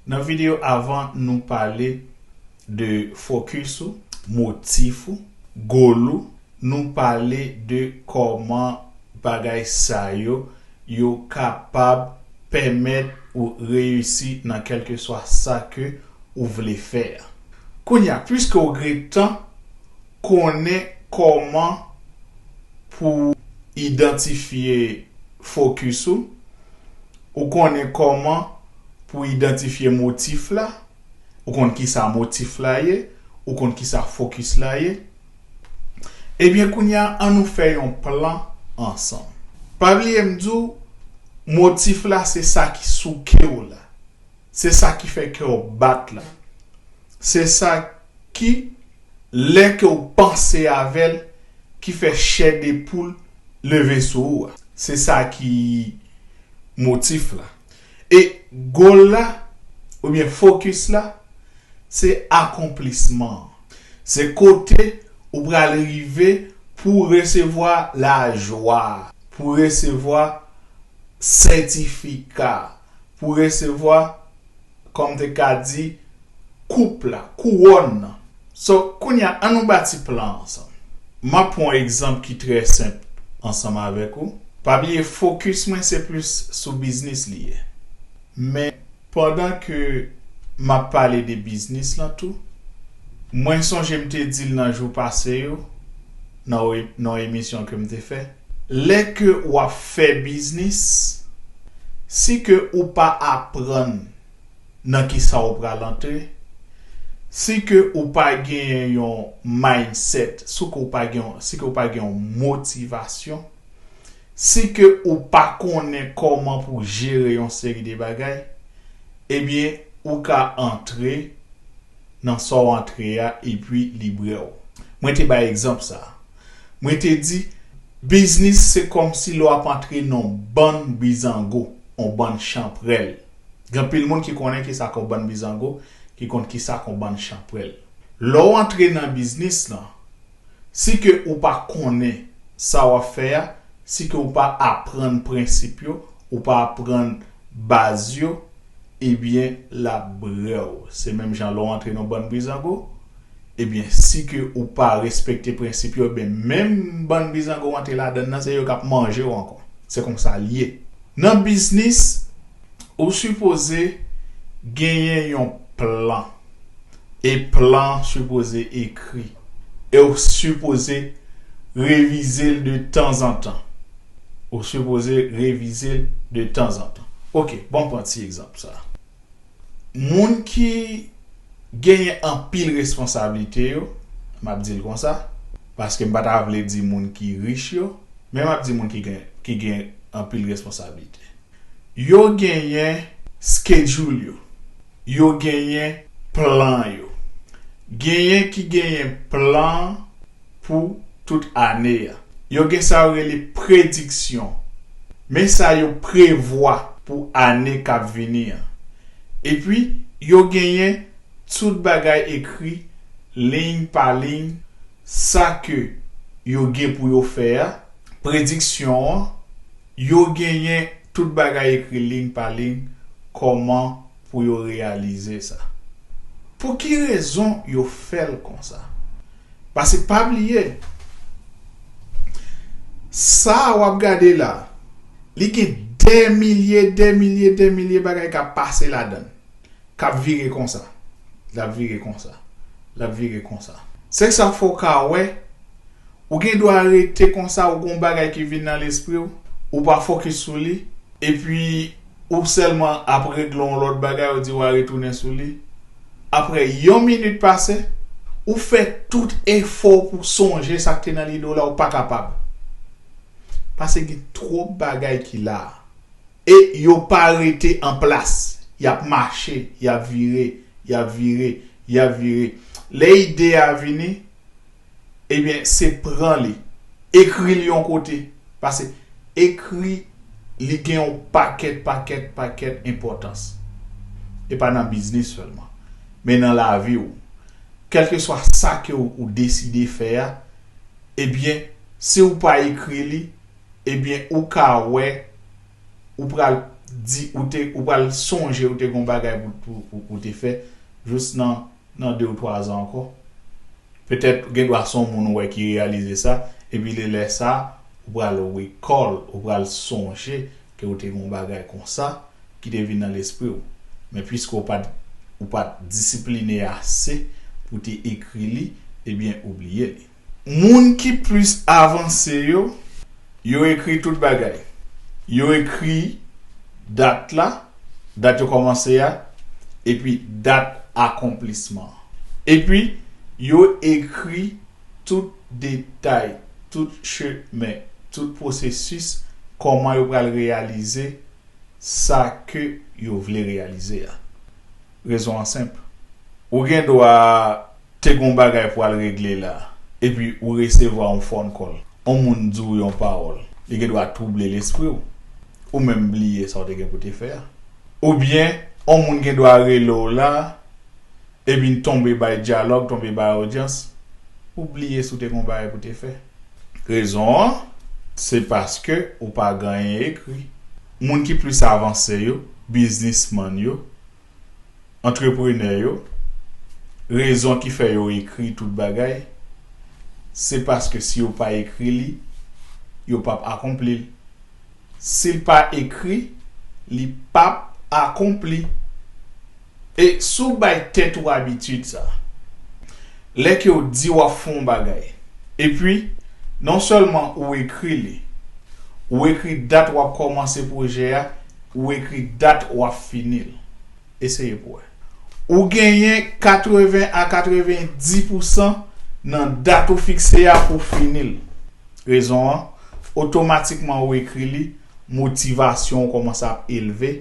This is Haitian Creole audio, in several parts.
Nan video avan nou pale de focus ou, motif ou, goal ou, nou pale de kòman bagay sa yo yo kapab pèmèt ou reyisi nan kèlkeswa sa ke ou vle fè a. Kounye a puiske ou gretan konnen kòman pou idantifye focus ou, Ou konnen kòman pou idantifye motif la, ou konn kisa motif la ye, ou konn kisa fokis la ye. Ebyen kounye a an nou fè yon plan ansanm. Pa bliye m di w motif la se sa ki souke w la, se sa ki fè kè w bat la, se sa. Ki lè ke w panse avè l ki fè chè de poul leve sou ou a? Se sa ki motif la. E goal la oubyen focus la se akonplisman an. Se kote ou pral rive pou w resevwa lajwa a, pou w resevwa sètifika a. pou resevwa, kòm m te ka di, koup la, kouwòn nan. So, kounye a, annou bati plan an ansanm. M ap pran yon egzanp ki trè senp ansanm avèk ou. Pa bliye fokis mwen se plis sou biznis li ye. Men, pandan ke m ap pale de biznis lan tou, mwen sonje m te di l nan jou pase yo, nan yon emisyon ke m te fè, Lè ke wap fè biznis, si ke ou pa aprann nan kisa ou pral antre, si ke ou pa genyen yon mindset, si ke ou pa gen, si ke ou pa gen yon motivasyon, si ke ou pa konnen kòman pou jere yon seri de bagay, ebyen ou ka antre nan sa w antre a epi li brew. Mwen te bay egzanp sa. Mwen te di, Biznis se kòmsi lè w ap antre nan yon bann bizango, yon bann chanprèl. Gen anpil moun ki konnen ki sa k yon bann bizango, ki konn ki sa k yon bann chanprèl. Lè w antre nan biznis lan, si ke ou pa konnen sa w ap fè a, si ke ou pa aprann prensip yo, ou pa aprann baz yo, ebyen lap brew se menm jan lè w antre nan bann bizango ebyen si ke ou pa respekte prensip yo ebyen menm bann bizango w antre ladann nan se yo kap manje w ankò se konsa l ye nan biznis ou sipoze genyen yon plan e plan an sipoze ekri e w sipoze revize l de tanzantan. Ou sipoze revize l de tanzantan. Ok, ban m pran ti egzanp sa a. Moun ki genyen anpil responsablite yo, m ap di l konsa, paske m pa ta vle di moun ki rich yo, men m ap di moun ki gen ki gen anpil responsablite. Yo genyen schedule yo, yo genyen plan yo. Genyen ki genyen plan. pou tout ane a. Yo gen sa yo rele prediksyon, men sa yo prevwa pou ane k ap vini an. Epi, yo genyen tout bagay ekri liy pa liy sa ke yo gen pou yo fè a, prediksyon an, yo genyen tout bagay ekri liy pa liy kòman pou yo reyalize sa. Pou ki rezon yo fè l konsa? Pase pa bliye, sa a w ap gade la a, li gen dè milye, dè milye, dè milye bagay k ap pase ladan l, k ap vire konsa, l ap vire konsa, l ap vire konsa. Se sa k fè w ka wè, ou gen dwa rete konsa, ou gen yon bagay ki vin nan lespri w, ou pa fokis sou li, epi. Ou sèlman ap regle yon lòt bagay ou di wa retounen sou li. Aprè yon minit pase, ou fè tout efò w pou sonje sa k te nan lide w la ou pa kapab. Pase gen twòp bagay ki la a. E yo pa rete an plas. Y ap mache, y ap vire, y ap vire, y ap vire. Lè ide a vini. Ebyen se pran li. Ekri li yon kote. Pase ekri li gen yon pakèt pakèt pakèt enpòtans. E pa nan biznis sèlman. Men nan lavi ou. Kèlkeswa sa ke ou deside fè a, ebyen si ou pa ekri li, ebyen ou ka wè ou pral di ou te ou pral sonje ou te gen yon bagay pou ou te fè jous nan Nan de ou twa zan ankò. Petèt gen dwa se yon moun ou wè ki reyalize sa, epi li lè sa ou pral recall, ou pral sonje ke ou te gen yon bagay konsa ki te vin nan lespri ou. Men puiske ou pa t ou pa t disipline ase pou te ekri li, ebyen ou bliye li. Moun ki plis avanse yo, yo ekri tout bagay. Yo ekri dat la, dat yo kòmanse a, epi dat akonplisman an. Epi, yo ekri tout detay, tout chemen, tout pwosesis kòman yo pral reyalize sa ke yo vle reyalize a. Rezon an senp. Ou gen dwa Te gon bagay pwal regle la epi ou resevwa yon phone call, yon moun di w yon pawòl, li gen dwa twouble lespri w, ou menm bliye sa w te gen pou te fè a. Oubyen yon moun gen dwa rele w la epi n tonbe bay dyalòg, tonbe bay odyans, ou bliye si w te gen yon bagay pou te fè. Rezon an, se paske ou pa ganyen ekri. Moun ki plis avanse yo, biznismann yo, antreprenè yo, rezon ki fè yo ekri tout bagay, se paske si yo pa ekri li, yo p ap akonpli l. Si l pa ekri, li p ap akonpli. E si w bay tèt ou abitid sa, lè ke w di w ap fè yon bagay, epi non sèlman ou ekri li, ou ekri dat w ap kòmanse pwojè a, Ou ekri dat w ap fini l. Eseye pou wè. Ou genyen 80 a 90 pousan nan dat ou fikse a pou fini l. Rezon an, otomatikman ou ekri li, motivasyon ou kòmanse ap elve,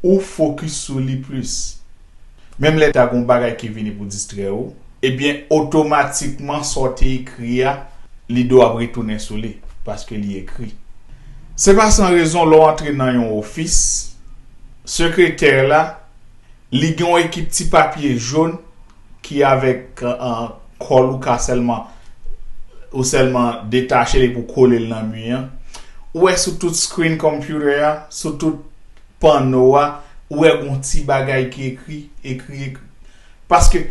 ou fokis sou li plis. Menm lè ta gen yon bagay ki vini pou distrè ou, ebyen otomatikman sa w te ekri a, lide w ap retounen sou li, paske li ekri. Se pa san rezon lè w antre nan yon ofis, sekretè la, li gen yon ekip ti papye jon ki avèk kòl ou ka sèlman ou sèlman detache l epi w kole l nan mi an. Ou wè sou tout screen computer a, sou tout. panno a ou wè gon ti bagay ki ekri ekri ekri paske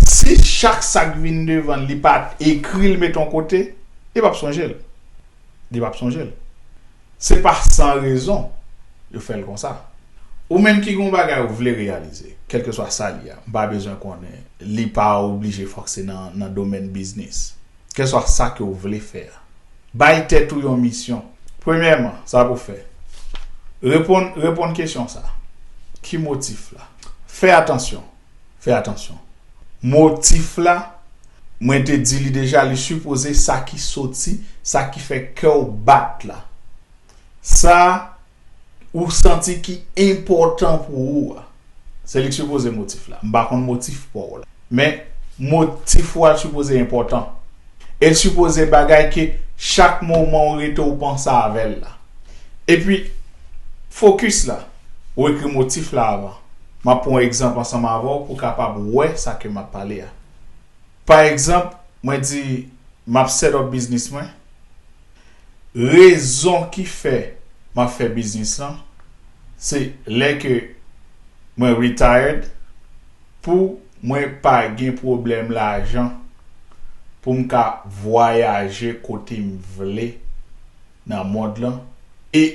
si chak sak vin devanl li pa ekril met yon kote li pap sonjel li pap sonjel se pa san rezon yo fèl konsa ou menm ki gon bagay ou vle reyalize kelkeswa sa li a m pa bezwen konnen li pa oblije fòk se nan domèn biznis. Kèlswa sa ke ou vle fè a. Bay tèt ou yon misyon. Premyèman, sa pou w fè. Reponn Reponn kesyon sa a, Ki motif la? Fè atansyon Fè atansyon Motif la, mwen te di li deja, li sipoze sa ki soti, sa ki fè kè w bat la. Sa. ou santi ki enpòtan pou ou a. Se li k sipoze motif la. M pa konn motif pa w la. Men, motif ou a sipoze enpòtan. E l sipoze bagay ke chak moman ou rete ou panse avè l la. Epi, fokis la. Ou ekri motif la avan. M ap pran yon egzanp ansanm avè w pou w kapab wè sa ke m ap pale a. Pa egzanp, mwen di, m ap set up biznis mwen. Rezon ki fè map fè biznis lan se lè ke mwen retired pou mwen pa gen pwoblèm lajan poum ka vwayaje kotem vle nan mond lan e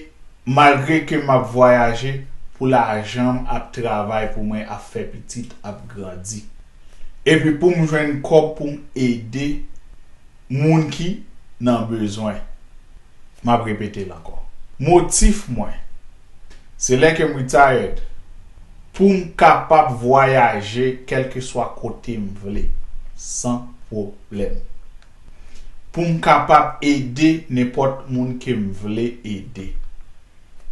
malgre ke map vwayaje pou lajanm ap travay pou mwen ap fè pitit ap grandi epi poum jwenn kòb poum ede Moun ki nan bezwen. M ap repete l ankò. Motif mwen. Se lè ke m retired pou m kapab vwayaje kèlkeswa kote m vle san pwoblèm. Pou m kapab ede nenpòt moun ke m vle ede.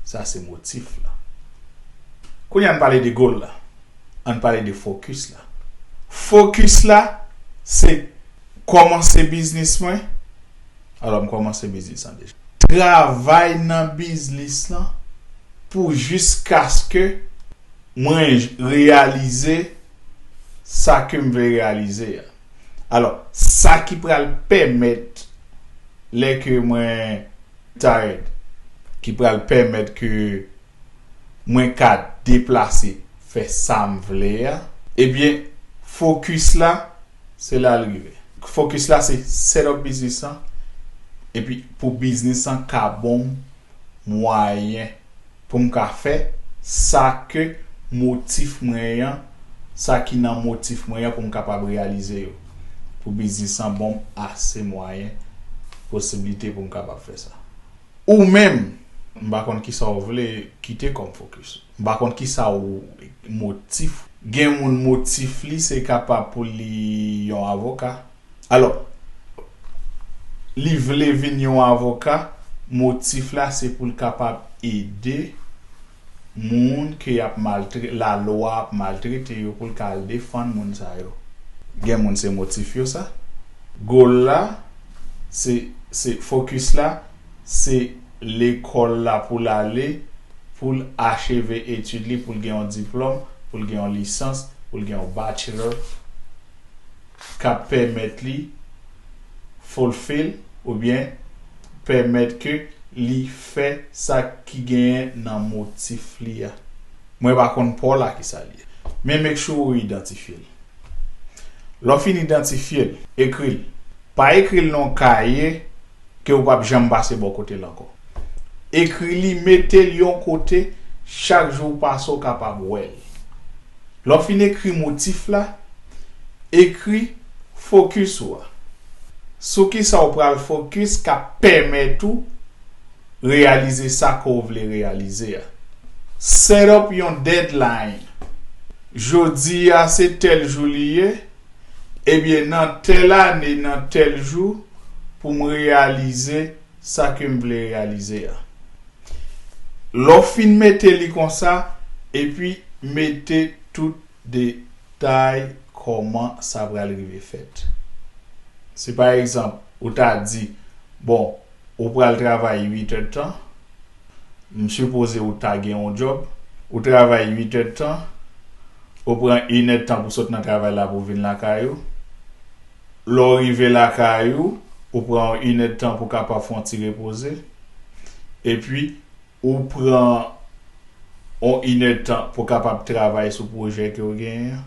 Sa se motif la. Kounye a ann pale de goal la. Ann pale de focus la. Focus la se. Kòmanse biznis mwen. Alò m kòmanse biznis lan deja. Travay nan biznis lan pou jiskaske. Mwen reyalize sa ke m vle reyalize a. Alò, sa ki pral pèmèt lè ke mwen. Tired. Ki pral pèmèt ke mwen ka deplase fè sam vle a. Ebyen focus la se lal rive. Focus la se set up biznis lan epi pou biznis lan ka bonm mwayen poum ka fè sa ke motif mwen yan sa ki nan motif mwen yan poum kapab reyalize yo pou biznis lan bonm ase mwayen posibilite poum kapab fè sa. Ou menm, m pa konn kisa w vle kite kòm fokis. M pa konn kisa w motif. Gen moun motif li se kapab pou li yon avoka. Alò, li vle vin yon avoka, motif la se pou l kapab ede moun ke yap maltre la lwa ap maltrete yo poul ka al defann moun sa yo. Gen moun se motif yo sa. Goal la se se focus la se lekol la poul ale poul acheve etude li poul gen yon diplom poul gen yon lisans poul gen yon bachelor kap pèmèt li fulfill oubyen pèmèt ke li fè sa ki genyen nan motif li a. Mwen pa konn paw la kisa li ye. Men make sure ou idantifye l. Lè w fin idantifye l, ekri l. Pa ekri l nan yon kaye ke ou pap janm pase bò kote l ankò. Ekri li, mete l yon kote chak jou ou pase ou kapab wè l. Lè w fin ekri motif la, ekri Fokis ou a. Sou kisa ou pral fokis ka pèmèt ou reyalize sa ke w vle reyalize a. Set up yon deadline. Jodi a se tèl jou li ye, ebyen nan tèl ane, nan tèl jou pou m reyalize sa ke m vle reyalize a. Lè w fin mete li konsa, epi mete tout Detay kòman sa pral rive fèt. Si pa egzanp, ou ta di, Bon, ou pral travay uitèdtan, m sipoze ou ta gen yon djòb, ou travay uitèdtan, ou pran inèdtan pou sot nan travay la pou vin lakay ou, lè w rive lakay ou, ou pran yon inèdtan pou w kapab fè yon ti repoze, epi Ou pran on inèdtan pou kapab travay sou pwojè ke ou genyen an.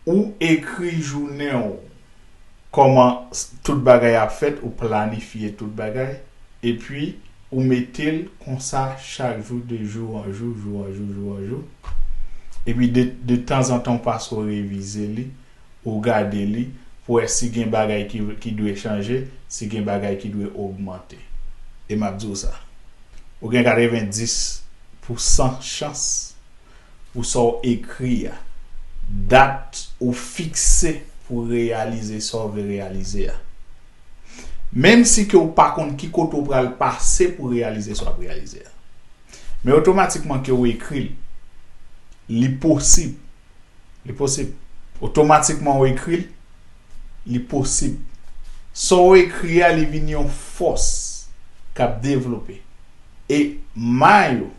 Ou ekri jounen ou, kòman tout bagay ap fèt, ou planifye tout bagay, epi ou mete l konsa chak jou de jou an jou, jou an jou, jou an jou, epi de tanzantan ou pase ou revize li. ou gade li pou wè si gen bagay ki ki dwe chanje, si gen bagay ki dwe ogmante. E m ap di w sa, ou gen 90 pou san chans pou sa w ekri a, dat ou fikse pou reyalize sa w vle reyalize a, menm si ke w pa konn ki kote w pral pase pou reyalize sa w ap reyalize a. Men otomatikman ke w ekri l, li posib. Li posib. Otomatikman ou ekri l, li posib. Sa ou ekri a, li vin yon fòs k ap devlope. E may ou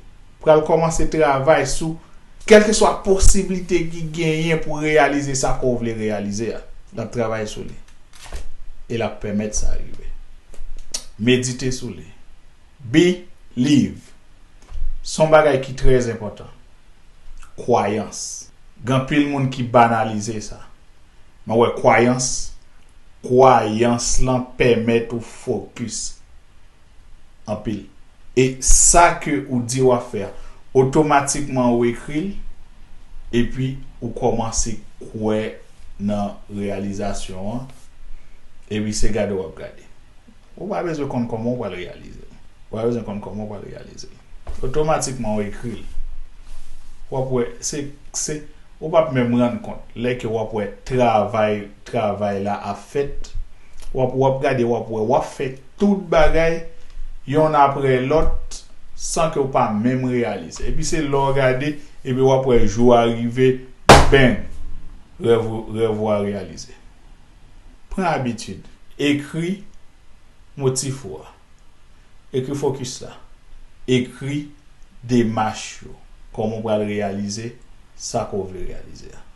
pral kòmanse travay sou kèlkeswa posiblite ki genyen pou reyalize sa kò ou vle reyalize a. L ap travay sou li. E l ap pèmèt sa rive. Medite sou li. Believe. S on bagay ki trè enpòtan. Kwayans. Gen anpil moun ki banalize sa. Men wè kwayans, kwayans lan pèmèt ou fokis anpil. E sa ke ou di w ap fè a, otomatikman ou ekri l, epi ou kòmanse kwè nan reyalizasyon an, epi se gade w ap gade. Ou pa bezwen konn kòman ou pral reyalize l. Ou pa bezwen konn kòman ou pral reyalize l. Otomatikman ou ekri l. W ap wè, se, se, ou p ap menm rann kont lè ke w ap wè travay, travay la ap fèt. W ap, w ap gade, w ap wè, w ap fè tout bagay yonn aprè lòt san ke w pa menm reyalize. Epi se lè w gade, epi w ap wè jou a rive, bang! Rèv ou, rèv ou a reyalize. Pran abitid. Ekri motif ou a. Ekri fokis la. Ekri demach yo. Kòman ou pral reyalize sa ke w vle reyalize a.